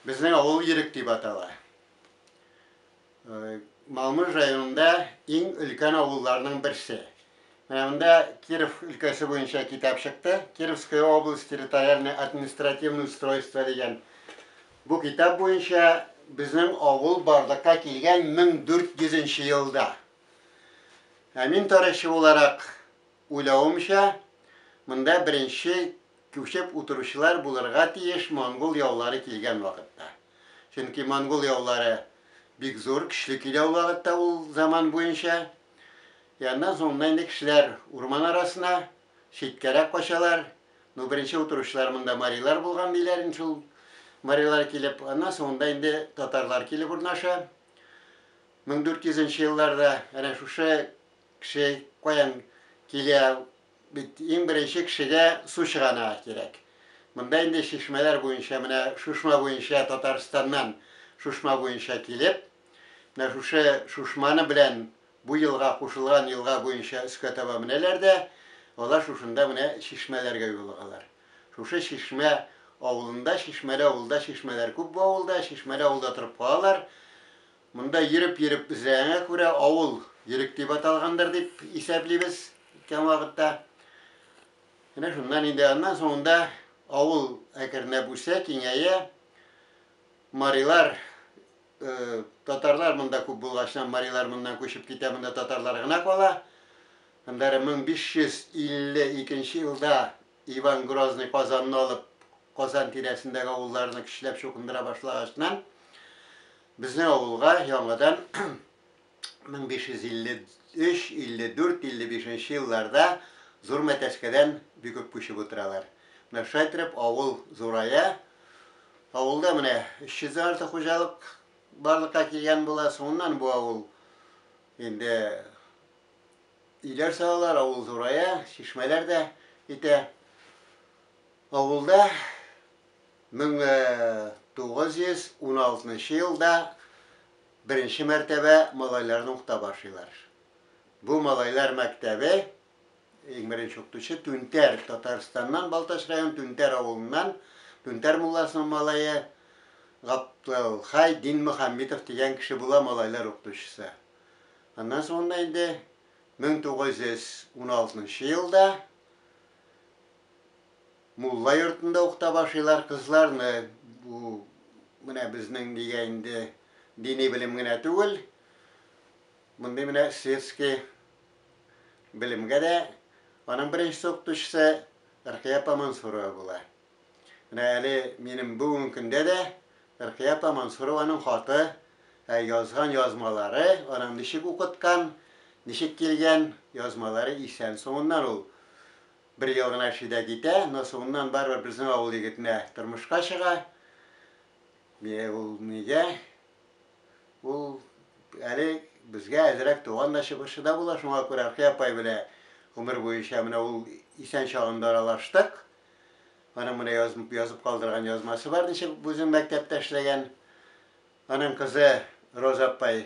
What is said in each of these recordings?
Безнең авыл Ирек дип атала. Малмыж районында иң өлкән авылларның берсе. Менә монда Киров өлкәсе буенча китап чыкты. Кировская область территориальное административное устройство дигән. Бу китап буенча безнең авыл барлыкка килгән 1400 нче елда. Ә мин тарихчы буларак Уйлавымча, монда беренче күчеп утыручылар булырга тиеш монгол яулары килгән вакытта. Чөнки монгол яулары бик зур, көчле килә ул вакытта ул заман буенча. И аннан соңыннан инде кешеләр урман арасына, читкәрәк качалар. Ну, беренче утыручылар монда марилар булган диләр инде шул. Марилар килеп, аннан соңында инде татарлар килеп урнаша. 1400 нче елларда әнә шушы Кеше каян килә, бит иң беренче кешегә су чыганагы кирәк. Монда инде чишмәләр буенча, менә шушма буенча, Татарстаннан шушма буенча килеп, менә шушы шушманы белән бу елга кушылган елга буенча өскә таба менәләр дә, алар шушында менә чишмәләргә юлыгалар. Шушы чишмә авылында, чишмәле авылда чишмәләр күп бу авылда, чишмәле авылда торып калалар. Монда йөреп-йөреп эзләгәнгә күрә, авыл Йөрек дип аталгандыр дип исәплибез үткән вакытта. Менә шуннан инде аннан соңында авыл әкренләп үсә, киңәя. Марилар, э, татарлар монда күп булгачнан, марилар моннан күчеп китә, монда татарлар гына кала. Аннары 1552 елда Иван Грозный Казанны алып, Казан тирәсендәге авылларны көчләп чукындыра башлагачнан, Безнең авылга яңадан 1553, 54, 55 нче елларда Зур Мәтәскәдән бик күп күчеп утыралар. Менә шулай иттереп авыл зурая. Авылда менә 300 дән артык хуҗалык барлыкка килгән була. Соңыннан бу авыл инде өйләр салалар, авыл зурая, чишмәләр дә итә. Авылда 1916 елда беренче мәртәбә малайларны укыта башлыйлар. Бу малайлар мәктәбе иң беренче укытучы Түнтәр, Татарстаннан Балтач район Түнтәр авылыннан Түнтәр мулласының малае Гаптылхай Динмөхәммитов дигән кеше була малайлар укытучысы. Аннан соңыннан инде 1916 елда Мулла йортында ук таба шыйлар кызларны, бу менә безнең нигә инде дини белем генә түгел, мондый менә светский белемгә дә Аның беренче укытучысы Ркыя апа Мансурова була. Менә әле минем бүгенге көндә дә Ркыя апа Мансурованың хаты, ә язган язмалары, аның ничек укыткан, ничек килгән язмалары исән соңыннан ул. Бер ел гына эшли дә китә, но соңыннан барыбер безнең авыл егетенә тормышка чыга. Бе, ул нигә? Ул әле безгә әзрәк туган да чыбырчы да була, шуңа күрә Әлфия апай белә гомер буенча менә ул исән чагында аралаштык. Аның менә язып, язып калдырган язмасы бар, ничек үзенең мәктәптә эшләгән. Аның кызы Роза апай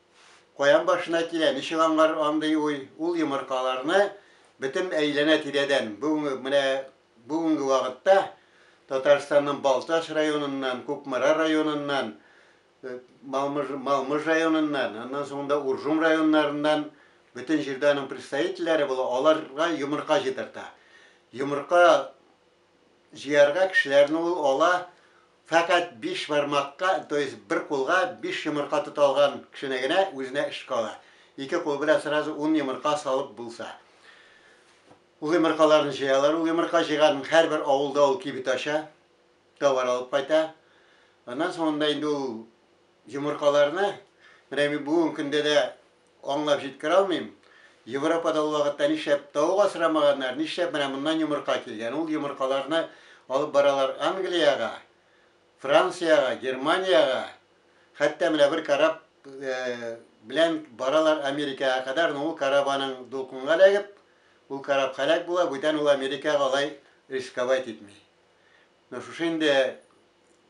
Каян башына килә, ничек аңар андый уй? Ул йомыркаларны бөтен әйләнә-тирәдән, бүгенге, менә бүгенге вакытта Татарстанның Балтач районыннан, Кукмара районыннан, Малмыж, Малмыж районыннан, аннан соң да Уржум районнарыннан бөтен җирдә аның представительләре була, аларга йомырка җыйдырта. Йомырка Җыярга кешеләрне ул ала, фәкать биш бармакка, то есть бер кулга биш йомырка тота алган кешене генә үзенә эш кала. Ике кул белән сразу ун йомырка салып булса. Ул йомыркаларны җыялар, ул йомырка җыйганын һәрбер авылда ул кибет ача, товар алып кайта. Аннан соңында инде ул йомыркаларны, менә бүген көндә дә Аңлап җиткерә алмыйм. Европада ул вакытта нишләп тавык асрамаганнар, нишләп менә моннан йомырка килгән? Ул йомыркаларны алып баралар Англиягә, Франциягә, Германиягә, хәтта менә бер кораб белән баралар Америкага кадәр, но ул кораб аның дулкынга эләгеп, ул кораб хәлак була, бүтән ул Америкага алай рисковать итми. Но шушы инде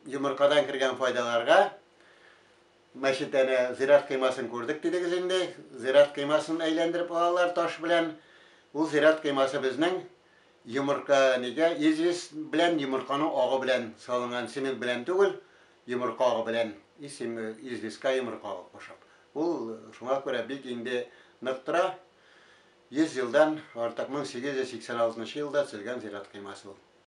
йомыркадан кергән файдаларга, Мәчет әнә зират коймасын күрдек дидегез инде. Зират коймасын әйләндереп алалар таш белән. Ул зират коймасы безнең йомырка нигә известь белән йомырканың агы белән салынган цемент белән түгел, йомырка агы белән и цеме известька йомырка агы кушып. Ул шуңа күрә бик инде нык тора. 100 елдан артык 1886 нчы елда төзелгән зират коймасы ул.